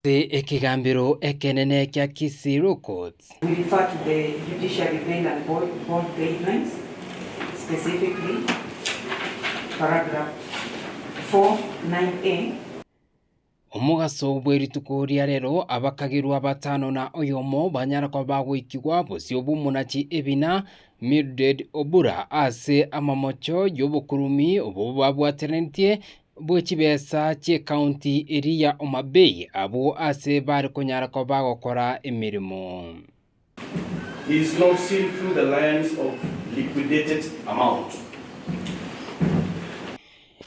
Ase ekegambero ekenene kia Kisii-Law Courts. Omogaso bwe rituko ria rero, abakagerwa batano na oyomo banyara koba bagoikigwa bosio bw'omonachi ebina Mildred Obura ase amamocho y'obokuruumi obwo babwateranetie bwe chibesa chi'ekaunti eria ya Homa Bay abwo aase bare konyara koba gokora emeremo.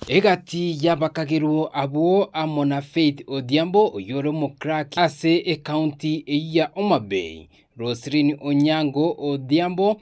Egati y'abakagerwa abwo amo na Faith Odhiambo oyore omoclerk ase ekaunti eyio ya Homa Bay, Roselyn Onyango Odhiambo,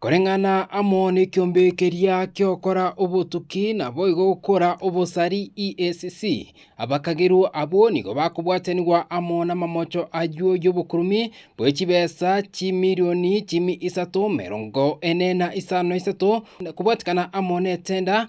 Koreng'ana amo nekiombe keria ki'okora obotuki naboigo gokora obosari EACC, abakagerwa abwo nigo bakobwatanigwa amo namamocho ayio y'obokurumi bwe chibesa chimilioni chimi isato, merongo ene na isano na isato, kobwatikana amo netenda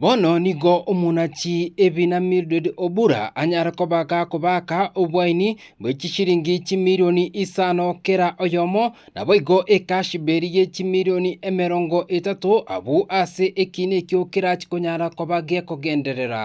Bono nigo omonachi ebina Mildred Obura anyare kobaka kobaka obwaini bwe chishiringi chimilioni isano kera oyomo, naboigo ekashberi ye chimilioni emerongo etato abwo ase ekiina ekio kerachi konyara koba gekogenderera.